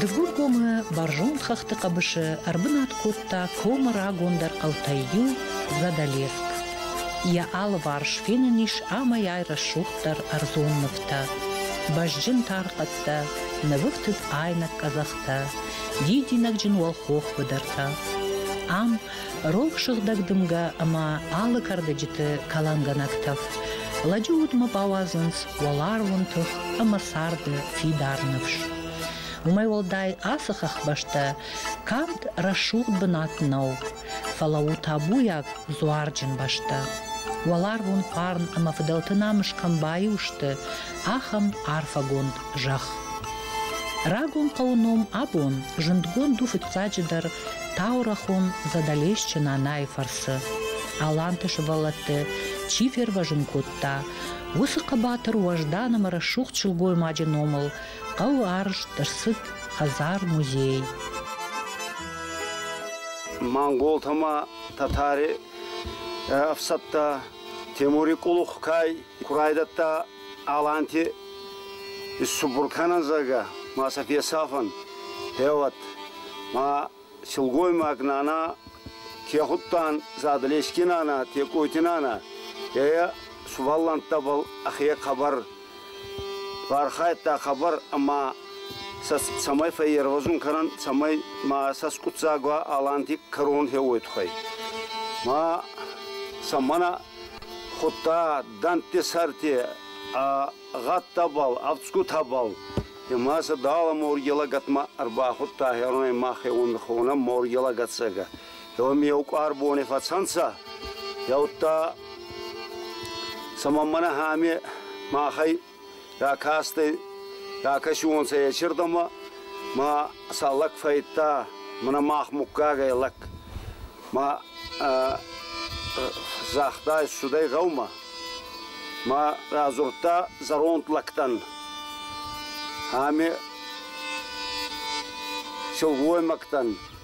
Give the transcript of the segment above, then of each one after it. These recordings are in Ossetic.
Дыгургомы бӕрзонд хӕхты хъӕбысы ӕрбынат кодта комы рагондӕр хъӕутӕй иу, Задалеск. Йӕ алыварс фенӕн ис амӕй-ай рӕсугъддӕр ӕрдзон нывтӕ. Бӕзджын тархъӕдтӕ, нывыфтыд айнӕг къӕдзӕхтӕ, дидинӕгджын уӕлхох быдыртӕ. Ам рох сыгъдӕг дымгӕ ӕмӕ алы кӕрдӕджыты кӕлӕнгӕнӕг тӕф. Лӕджы удмӕ бауадзынц уӕларвон тых ӕмӕ царды фидар ныфс. Уымӕй уӕлдай ацы хӕхбӕстӕ канд рӕсугъд бынат нӕу, фӕлӕ у табуйаг дзуарджын бӕстӕ. Уӕларвон хъарм ӕмӕ фыдӕлты намыс кӕм баиу сты, ахӕм арфӕгонд зӕхх. Рагон хъӕуы ном абон зындгонд у фыццаджыдӕр Таурӕхон Задӕлесчы Нанайы фӕрцы аланты сывӕллӕтты чи фервӕзын кодта, уыцы хъӕбатыр уӕздан ӕмӕ рӕсугъд сылгоймаджы номыл хъӕуы арӕзт ӕрцыд хӕдзар-музей. Монголтӕ ма татари ӕфсӕдтӕ Темури къулух кӕй Ку райдӕдта Аланти исцубур кӕнӕн, зӕгъгӕ, ма сӕ фесафӕн, феуӕд. Ма силгоймаг нана ке худтан Задълески нана, Текъойти нана, е сувӕллӕнттӕбӕл ӕхе хъӕбӕр фархайдта хабар ӕма сӕ цӕмӕй фӕййервӕзун кӕнӕн, цӕмӕй ма сӕ скъуддзаг уа Аланти кӕрон хеуой туххӕй. Ма сӕ мӕнӕ Худта дӕнтти сӕрти ӕ гъӕдтӕбӕл, ӕфцгутӕбӕл. Ӕма сӕ дала морги лӕгӕтмӕ ӕрбахудта херонӕй махе ундхонӕ морги лӕгӕццагӕ. Еуми еу къуар бони фӕцӕнцӕ. Еудта, цӕмӕн мӕнӕ ами махӕй Ракасти, ракӕсионцӕ еци рдӕмӕ, ма сӕ лӕг фӕййидта мӕнӕ мах муггагӕй лӕг. Ма загъта ӕфсудӕй гъӕумӕ, ма радзурдта зӕронд лӕгтӕн. Ами силгоймӕгтӕн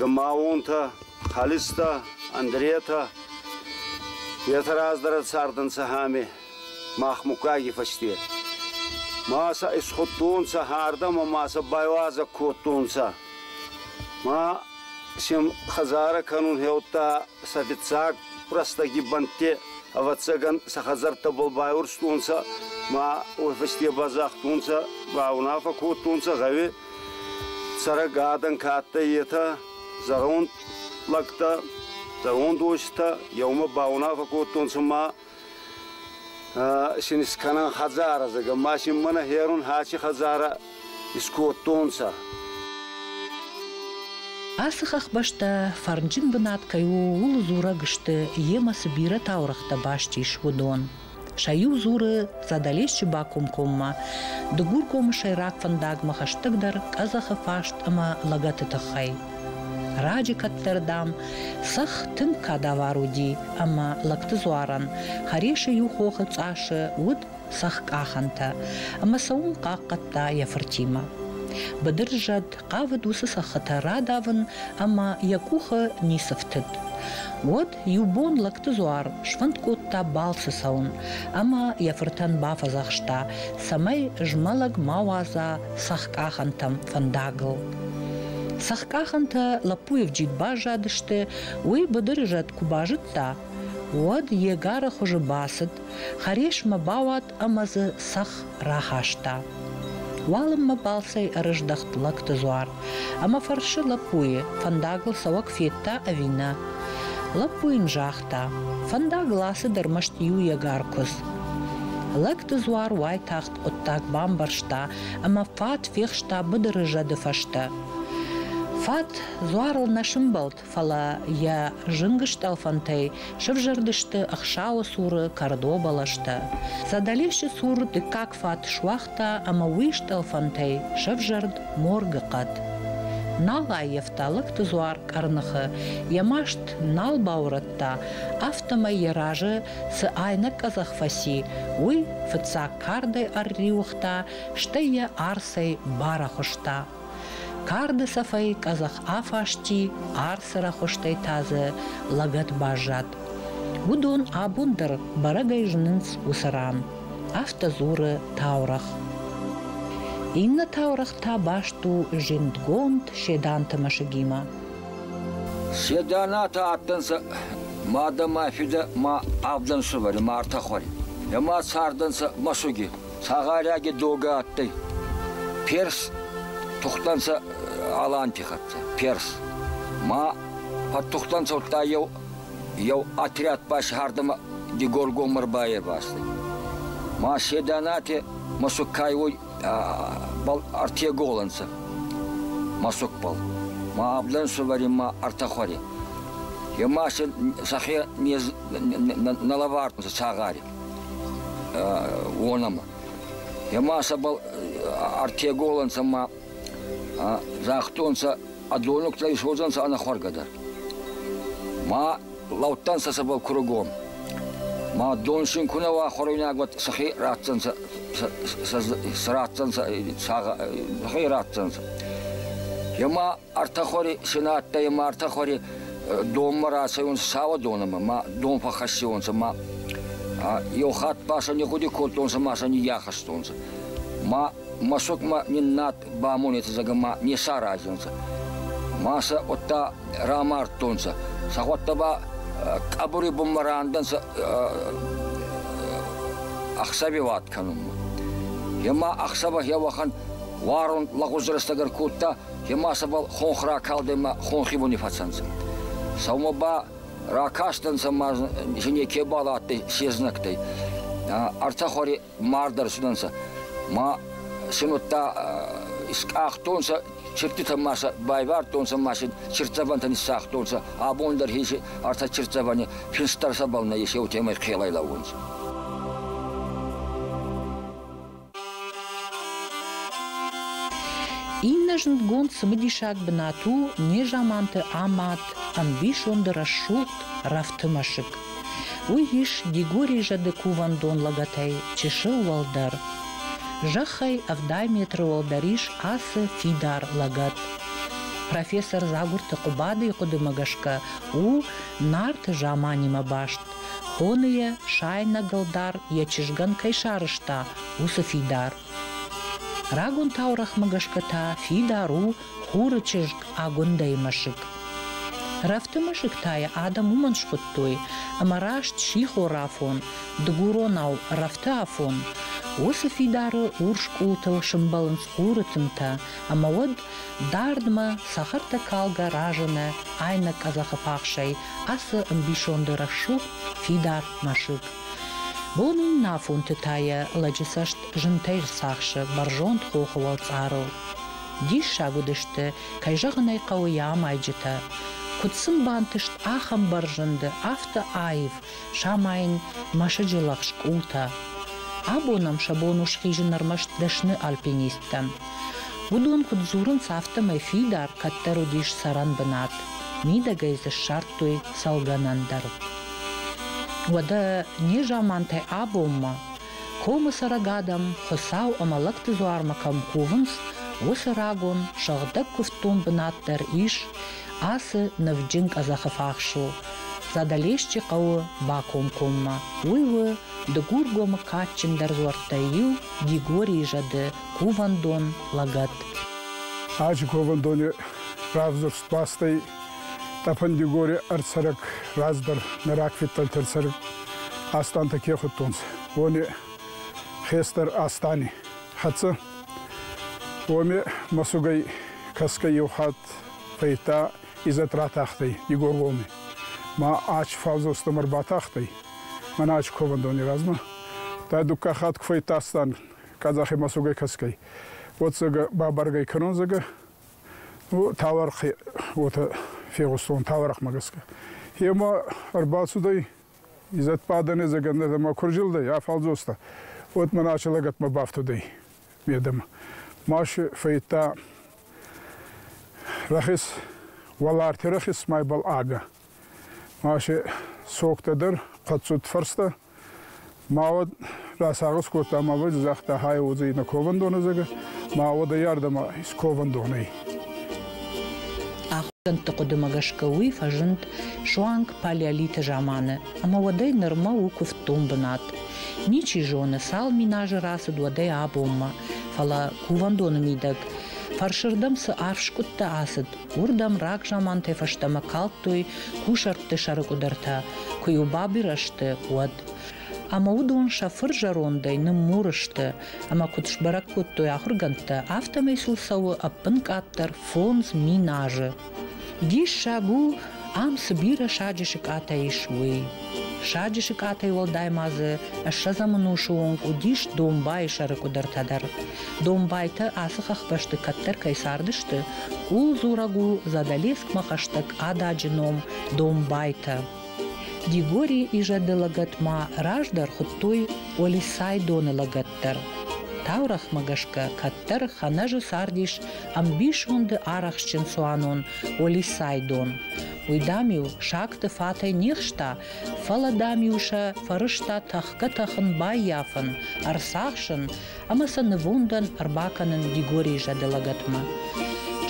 Гмаонтӕ, Халистӕ, Андретӕ етӕ раздӕр цардӕнцӕ ами махмуггаги фӕсте. Ма сӕ исхудтонцӕ хӕрдӕмӕ ма сӕ байуазӕг кодтонцӕ. Ма сем хӕдзарӕ кӕнун хеудта сӕ фиццаг рӕстӕги бӕнтти. Ӕвӕццӕгӕн сӕ хӕдзӕрттӕбӕл байурстонцӕ ма уой фӕсте базагътонцӕ, баунаффӕ кодтонцӕ гъӕуи Цӕрӕг адӕн ка адтӕй, етӕ зӕронд лӕгтӕ, зӕронд уостӕ еумӕ баунафӕ кодтонцӕ ма син искӕнӕн хӕдзарӕ, зӕгӕ ма син мӕнӕ херун хӕци хӕдзарӕ искодтонцӕ. Ацы хӕхбӕстӕ фӕрнджын бынат кӕй у, ууыл дзурӕг сты, йемӕ цы бирӕ таурӕгътӕ баст ис, уыдон. Сӕ иу дзуры Задӕлесчы бакомкоммӕ Дыгургомы сӕйраг фӕндагмӕ хӕстӕгдӕр къӕдзӕхы фарст ӕмӕ лӕгӕты тыххӕй. Раджы кӕддӕр, дам, цӕхх тынг кадавар уыди, ӕмӕ лӕгты дзуарӕн хӕресы иу хохы цъасы уыд цӕхх къахӕнтӕ, ӕмӕ сӕ уым хъахъхъӕдта йӕ фыртимӕ. Быдырзӕд хъавыд уыцы цӕххытӕ радавын ӕмӕ йӕ къухы ницы фтыд. Уӕд Иу бон Лӕгтыдзуар сфӕнд кодта балцы цӕуын ӕмӕ йӕ фыртӕн бафӕдзӕхста, цӕмӕй змӕлӕг ма уадза цӕхкъахӕнтӕм фӕндагыл. Цӕхкъахӕнтӕ лӕппуйы джид баззадысты, уый быдыры зӕд куы базыдта, уӕд йе гары хуызы бацыд Хӕрисмӕ бауад ӕмӕ дзы цӕхх рахаста. Уалынмӕ балцӕй ӕрыздӕхт лӕгты дзуар ӕмӕ фӕрсы лӕппуйы, фӕндагыл цӕуӕг федта ӕви нӕ. Лӕппу йын загъта, фӕндагыл ацыд ӕрмӕст иу егар куыдз. Лӕгты дзуар уайтагъд хъуыддаг бамбӕрста ӕмӕ фат фехста быдыры зӕды фӕстӕ. Фат дзуарыл нӕ сымбӕлд, фӕлӕ йӕ зынг стъӕлфӕнтӕй сывзӕрдысты ӕхсӕвы цуры кӕрдо бӕлӕстӕ. Садалевшы цур дыккаг фат суагъта ӕмӕ уый стъӕлфӕнтӕй сӕвзӕрд моргы хъӕд. Нал аййӕфта лӕгты дзуар къӕрныхы, йӕ маст нал баурӕдта, афтӕмӕй йӕ разы цы айнӕг къӕдзӕх фӕци, уый фыццаг кардӕй ӕрриуыгъта, стӕй йӕ арцӕй барӕхуыста Карды цӕфӕй къӕдзӕх афасти, арцы рӕхуыстӕй та дзы лӕгӕт баззад. Уыдон абон дӕр бӕрӕгӕй зынынц уыцы ран. Афтӕ дзуры таурӕгъ. Иннӕ таурӕгъ та баст у зиндгонд Седанты мӕсыгимӕ. Седанатӕ адтӕнцӕ мадӕ ӕма фидӕ ма авдӕнсувӕри мартӕ хуӕри. Ема цардӕнцӕ мӕсуги. Цагъарӕги догӕ адтӕй. Перс тухтӕнцӕ Аланти хӕццӕ. Перс. Ма фӕттухтӕнцӕ удта еу, еу отряд басагьардӕмӕ Дигоргоммӕ рбайервазтӕй. Ма се Донати мӕсугкай уой ӕртӕ гол ӕнцӕ. Мӕсугбӕл. Ма абдӕнсувӕри ма ӕртӕ хуӕри. Е ма сӕ сӕхе не лӕвардтонцӕ цагъари. уонӕмӕ. Ема сӕбӕл ӕртеголӕнцӕ ма загътонцӕ, ӕдониугтӕ исуодзӕнцӕ ӕнӕхуӕргӕ дӕр. Ма лӕудтӕнцӕ сӕбӕл кургон. Ма дон син ку нӕ уа хуӕруйнаг, уӕд сӕхе ратдзӕнцӕ, сӕ ратдзӕнцӕ, сӕхе ратдзӕнцӕ. Ема Ӕртӕхуӕри синӕ адтӕй ӕма ӕртӕхуӕри донмӕ рацӕйунцӕ Сауӕдонӕмӕ, ма дон фӕххӕссиуонцӕ, ма еу хатт ба сӕ нигъгъуди кодтонцӕ ма сӕ ниййахӕстонцӕ. Ма мӕсукмӕ ниннад бамонетӕ зӕгӕ ма не саразӕнцӕ. Ма сӕ уӕдта рамардтонцӕ. Сӕхуӕдтӕ ба къӕбури бунмӕ рандӕнцӕ ӕхсӕвеуат кӕнунмӕ. Е ма ӕхсӕвӕ хе уӕхӕн уарун лӕгъуз рӕстӕг ӕркодта, Ема сӕбӕл хонх ракалдӕй хонхибуни фӕцӕнцӕ. Сӕумӕ ба ракастӕнцӕ ма жене кебал адтӕй се знӕгтӕй. Ӕртӕ хуӕри мард ӕрцудӕнцӕ. Ма син удта скъахтонцӕ чирдтитӕ ма сӕ байвардтонцӕ ма син чирддзӕвӕнтӕ ниссагътонцӕ. Абон дӕр хеси ӕртӕ чирддзӕвӕни финстдӕр сӕбӕл нӕййес, еутемӕй хелӕй лӕуунцӕ. Иннӕ зундгонд цымыдисаг бынат у незаманты амад, ӕмбисонды рӕсугъд рӕфты мӕсыг. Уый ис Дигорий зӕды кувӕндон лӕгӕтӕй чысыл уӕлдӕр. Зӕххӕй ӕвдай метры уӕлдӕр ис ацы фидар лӕгӕт. Профессор Дзагурты Хъуыбадыйы хъуыдымӕ гӕсгӕ у Нарты заманимӕ баст, Хоны йӕ, сайнӕгыл дӕр йӕ чызгӕн кӕй сарызта, уыцы фидар. Рагон таурӕгъмӕ гӕсгӕ та фидар у хуры чызг Агуындӕйы мӕсыг. Рӕфты мӕсыг та йӕ адӕм уымӕн схуыдтой, ӕмӕ раст сихорафон, дыгуронау рӕфты афон. Уыцы фидары урс къултыл сымбӕлынц хуры тынтӕ, ӕмӕ уӕд Дардмӕ цӕхӕртӕ калгӕ разыны айнӕг къӕдзӕхы пахсӕй ацы ӕмбисонды рӕсугъд фидар мӕсыг. Бонӕйнафонты та йӕ лӕджы цӕст зынтӕй рцахсы бӕрзонд хохы уӕлцъарыл. Диссаг уыдысты, кӕй зӕгъын ӕй хъӕуы, йӕ амайджытӕ. Куыд сын бантыст ахӕм бӕрзынды афтӕ аив, самайын мӕсыджы лӕгъз къултӕ. Абонам сӕ бон у схизын ӕрмӕст дӕсны альпинисттӕн. Уыдон куыд дзурынц, афтӕмӕй фидар кӕддӕр уыдис цӕрӕн бынат. Мидӕгӕй дзы ссардтой цӕлгӕнӕн дӕр. Уӕдӕ незамантӕй абонмӕ, комы цӕрӕг адӕм Хуыцау ӕмӕ лӕгты дзуармӕ кӕм кувынц, уыцы рагон, сыгъдӕг куывддон бынат дӕр ис, Ацы ныв-джын къӕдзӕхы фахс у Задӕлесчы хъӕуы бакомкоммӕ. Уый у Дыгургомы кадджындӕр дзуӕрттӕй иу, Дигорийы зӕды кувӕндон лӕгӕт. Ацы кувӕндоны равзӕрст бастӕй тъӕпӕн Дигори ӕрцӕрӕг раздӕр нӕ рагфидтӕлтӕ цӕрӕг Астантӕ ке худтонцӕ, уони хестӕр Астани хӕццӕ. Уоми мӕсугӕй кӕсгӕй еу хатт Фӕйта Изӕт ратахтӕй Игоргоми. Ма ач фалдзостӕм ӕрбатахтӕй, мӕнӕ ач ковӕндони размӕ. Та дукка хатг фӕйттастан казахи мӕсугӕй кӕсгӕй. Уот зӕгӕ бабаргӕй кӕнон зӕгӕ. Ну, таларх уотӕ фегъустон, талархмӕ гӕсгӕ. Ема ӕрбацудӕй, Изӕт бадӕнӕ зӕгӕ нӕдӕмӕ ку рзилдӕй ӕ фалдзостӕ, уот мӕнӕ аче лӕгӕтмӕ бафтудӕй медӕмӕ. Машы фӕйта Рахес уӕларти рахесмӕйбӕл адӕ. Маше согтӕ дӕр хъӕццуд фӕрстӕ. Ма уӕд расагъӕс кодта ма уой, загъта хай уодзӕй на ковӕндонӕ зӕгӕ, ма уӕдӕ йардӕмӕ ис ковӕндонӕй. Ахуыргӕндты хъуыдымӕ гӕсгӕ уый фӕзынд суанг палеолиты заманы ӕмӕ уӕдӕй нырмӕ у куывддон бынат. Ничи зоны, цал миназы рацыд уӕдӕй абонмӕ, фӕлӕ Кувӕндоны мидӕг фӕрсырдӕм цы арф скъуыдтӕ ацыд, уырдӕм рагзамантӕй фӕстӕмӕ калдтой кусӕртты сӕрыкъуыдыртӕ, куы-иу бабирӕ сты, уӕд. Ӕмӕ уыдон сӕ фыр зӕрондӕй ныммур сты, ӕмӕ куыд сбӕрӕг кодтой ахуыргӕндтӕ, афтӕмӕй сыл цӕуы ӕппынкъаддӕр фондз мин азы. Диссаг у, ам цы бирӕ саджы сыкъатӕ ис, уый. Саджы сыкъатӕй уӕлдай ма дзы ссӕдзӕмӕн усы онг уыдис домбайы сӕры къуыдыртӕ дӕр. Домбайтӕ ацы хӕхбӕсты кӕддӕр кӕй цардысты, къулдзураг у Задолескмӕ хӕстӕг ададжы ном Домбайтӕ. Дигори изӕды лӕгӕт ма раздӕр хуыдтой Олисайдоны лӕгӕт дӕр. Таурӕгъмӕ гӕсгӕ кӕддӕр Ханӕжы цардис ӕмбисонды арӕхстджын цуанон Олисайдон. Уый, дам-иу сагты фатӕй нирста, фӕлӕ, дам-иу сӕ фӕрызта тӕхгӕ-тӕхын баййафын, ӕрцахсын ӕмӕ сӕ нывондӕн ӕрбакӕнын Дигорийы зӕды лӕгӕтмӕ.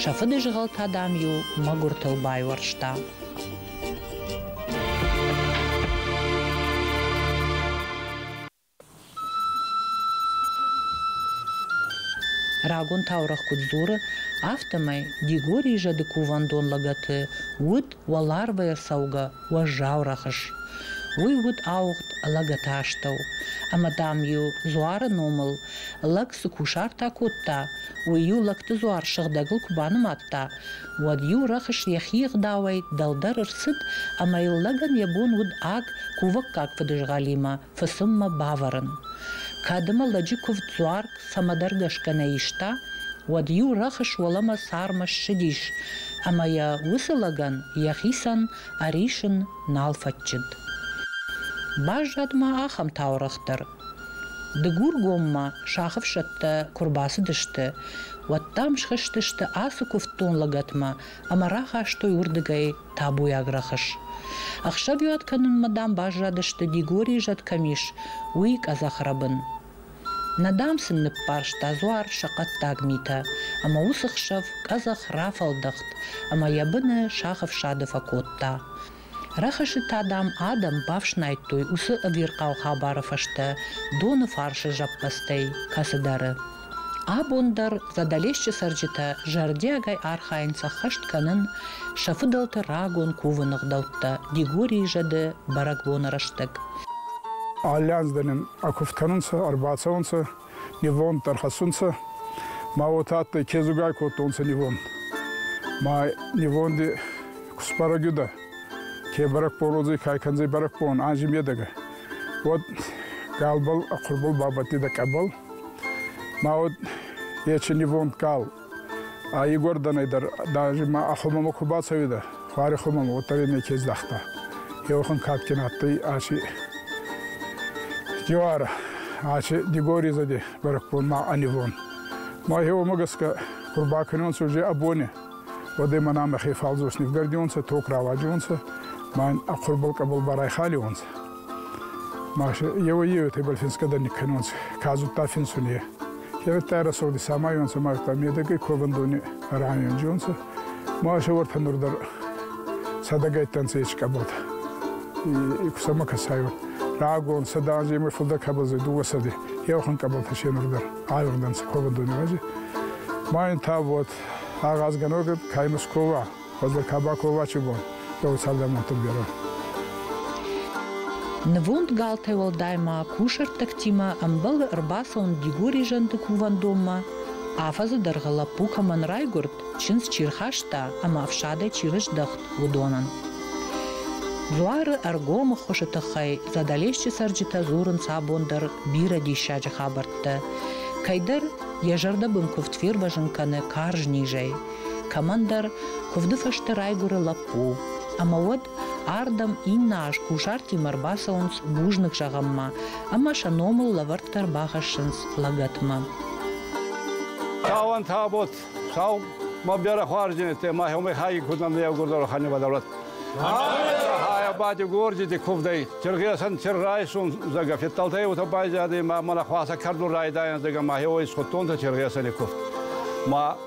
Сӕ фыдызгъӕл та, дам-иу мӕгуыртыл байуӕрста. Рагон таурӕгъ куыд дзуры, афтӕмӕй Дигорийы зӕды кувӕндон лӕгӕты уыд уӕларвӕй ӕрцӕугӕ уӕззау рӕхыс. Уый уыд ауыгъд лӕгӕты астӕу. Ӕмӕ, дам-иу дзуары номыл лӕг цы кусартӕ кодта, уый-иу лӕгты дзуар сыгъдӕгыл куы банымадта, уӕд-иу рӕхыс йӕхи ӕгъдауӕй дӕлдӕр ӕрцыд ӕмӕ йыл лӕгӕн йӕ бон уыд аг кувӕггаг фыдызгъӕлимӕ фысыммӕ бавӕрын. Кӕд ӕмӕ лӕджы куывд дзуар цӕмӕдӕр гӕсгӕ нӕ иста, уӕд-иу рӕхыс уӕлӕмӕ цармӕ ссыдис ӕмӕ йӕ уыцы лӕгӕн йӕхицӕн ӕрисын нал фӕтчыд. Баззад ма ахӕм таурӕгъ дӕр. Дыгургоммӕ сахъфсӕдтӕ куы рбацыдысты, уӕд дам схызтысты ацы куывддон лӕгӕтмӕ ӕмӕ рахастой уырдыгӕй табуйаг рӕхыс. Ӕхсӕвиуат кӕнынмӕ дам баззадысты Дигорийы зӕд кӕм ис, уый къӕдзӕхрӕбын. Нӕ дам сын ныббарста дзуар сӕ хъӕддаг митӕ, ӕмӕ уыцы хсӕв къӕдзӕх рафӕлдӕхт ӕмӕ йӕ быны сах ӕфсады фӕкодта. Рӕхысы та, дам, адӕм бафснайдтой уыцы ӕвирхъау хабары фӕстӕ доны фарсы зӕппӕдзтӕй кӕцыдӕры. Абон дӕр Задӕлесчы цӕрджытӕ зӕрдиагӕй архайынц ӕххӕст кӕнын сӕ фыдӕлты рагон кувыны гъдӕуттӕ Дигорийы зӕды бӕрӕгбоны рӕстӕг. Алли аз дӕр нин ӕ кувд кӕнунцӕ, ӕрбацӕунцӕ, нивонд дӕр хӕссунцӕ. Ма уотӕ адтӕй, кезугай кодтонцӕ нивонд. Ма нивонди кусбарӕгюдӕ, ке бӕрӕгбородзӕй ка кӕндзӕй бӕрӕгбон, анзи медӕгӕ, уӕд галбӕл, хъурбул бабӕттидӕ къӕбӕл, Ма уӕд ечи нивонд кал. А Егорданӕй дӕр даже ма а хумӕмӕ ку бацӕуидӕ, хуари хумӕмӕ, уӕддӕр е неке здахта. Еухан кадгин адтӕй ачи Дивара, ачи Дигори зади бӕрӕгбон ма а нивон. Мӕхе уомӕ гӕсгӕ кур бакӕнонцӕ уже абони. Уӕдӕй мӕнӕ мӕхе фалдзос нивгардионцӕ, ток рауаджиуонцӕ, ма ин а хурбӕл къӕбӕл барайхалиуонцӕ. Маша еуӕй-еутӕй бал финсгӕ дӕр никкӕнонцӕ, ка зудта финсуни. Кенӕдта рӕсугъди самайонцӕ мадта медӕгӕй ковӕндони ранионджонцӕ. Маша уӕртӕ нур дӕр сӕдӕгӕйттӕнцӕ ескъӕбӕл. И кусӕмӕ кӕсайуат. Рагон сӕдӕ анзи емӕ фулдӕр кӕбӕлдзӕй дууӕ сӕди. Еухункъӕбӕлтӕ се нур дӕр айугъдӕнцӕ ковӕндони рази. Ма ин та уод агъазгӕногӕ кӕй Московӕ Ходы Табаковачы бон дӕу цардамонты берӕ. Нывонд галтӕй уӕлдай ма кусӕрттӕгтимӕ ӕмбӕлы ӕрбацӕуын Дигори зӕнды кувӕндонмӕ, афӕдзы дӕргъы лӕппу кӕмӕн райгуырд, чындз чи рхаста ӕмӕ ӕфсадӕй чи рыздӕхт, уыдонӕн. Дзуары ӕргомы хуызы тыххӕй Задӕлесчы цӕрджытӕ дзурынц абон дӕр бирӕ диссаджы хабӕрттӕ. Кӕйдӕр йӕ зӕрдӕбын куывд фервӕзын кӕны карз низӕй, Кӕмӕндӕр куывды фӕстӕ райгуыры лӕппу, ӕмӕ уӕд ардӕм иннӕ аз кусартимӕ ӕрбацӕуынц бузныг зӕгъынмӕ ӕмӕ сӕ номыл лӕвӕрттӕ ӕрбахӕссынц лӕгӕтмӕ. Каван табот, сау ма бяра хуаржинете, ма хёмай хаги куднан левгурдору ханиваларат. Хая бати горджити кувдай, тиргесан тир райсун зага фетталтая ута байзади, ма мана хваса карду райдайан зага ма хёвай схуттонта тиргесани куфт. Ма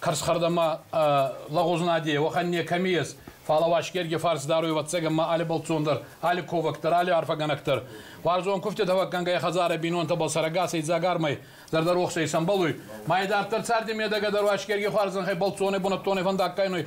Карсхардама лагъузнаде, уӕхӕн некӕми ес, фал Уасгерги фарс даруй вӕццӕгӕмӕ али бӕлццондӕр, али ковӕгдӕр, али арфӕгӕнӕгдӕр. Уарзон куфтӕ давӕггӕнгӕй хӕдзарӕ бийнонтӕбӕл сӕрӕгасӕй дзагармӕй зӕрдӕ рохсӕй сӕмбӕлуй. Ма идарддӕр царди медӕгӕ дӕр Уасгерги хуарзӕнхӕй бӕлццони бунӕттони фӕндаггайнуй,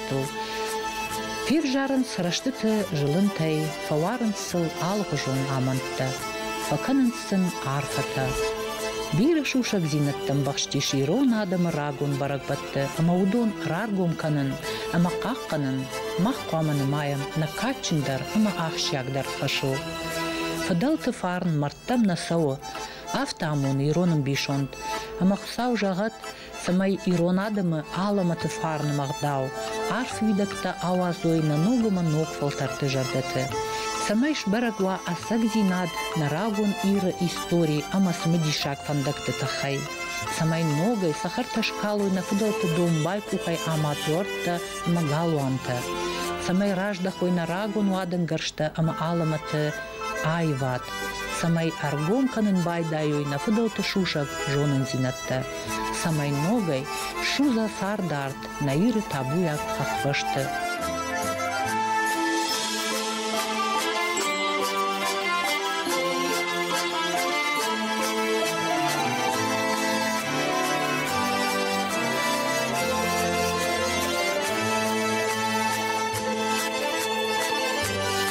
дӕттыл. Февзарынц рӕстыты зылынтӕй, фӕуарынц сыл алыгъуызон амӕндтӕ, фӕкӕнынц сын арфӕтӕ. Бирӕ сусӕгдзинӕдтӕ ӕмбӕхстис ирон адӕмы рагон бӕрӕгбӕтты ӕмӕ уыдон раргом кӕнын ӕмӕ хъахъхъӕнын мах хъуамӕ нымайӕм нӕ кадджындӕр ӕмӕ ахсджиагдӕр фӕсу. Фыдӕлты фарн мӕрдтӕм нӕ цӕуы, афтӕ амоны ирон ӕмбисонд. Ӕмӕ Хуыцау зӕгъӕд, цӕмӕй ирон адӕмы алӕмӕты фарны ӕгъдау, арф уидӕгтӕ ауадзой нӕ ног ӕмӕ ног фӕлтӕрты зӕрдӕты, цӕмӕй сбӕрӕг уа ӕцӕгдзинад нӕ рагон Иры истори ӕмӕ цымыдисаг фӕндӕгты тыххӕй, цӕмӕй ногӕй цӕхӕртӕ скалой нӕ фыдӕлты домбай къухӕй ӕмӕ дзуӕрттӕ ӕмӕ галуантӕ, цӕмӕй раздӕхой нӕ рагон уадӕнгӕрзтӕ ӕмӕ алӕмӕты аивад, цӕмӕй ӕргом кӕнын байдайой нӕ фыдӕлты сусӕг зонындзинӕдтӕ, цӕмӕй ногӕй судза цардарт нӕ Иры табуйаг хӕхбӕсты.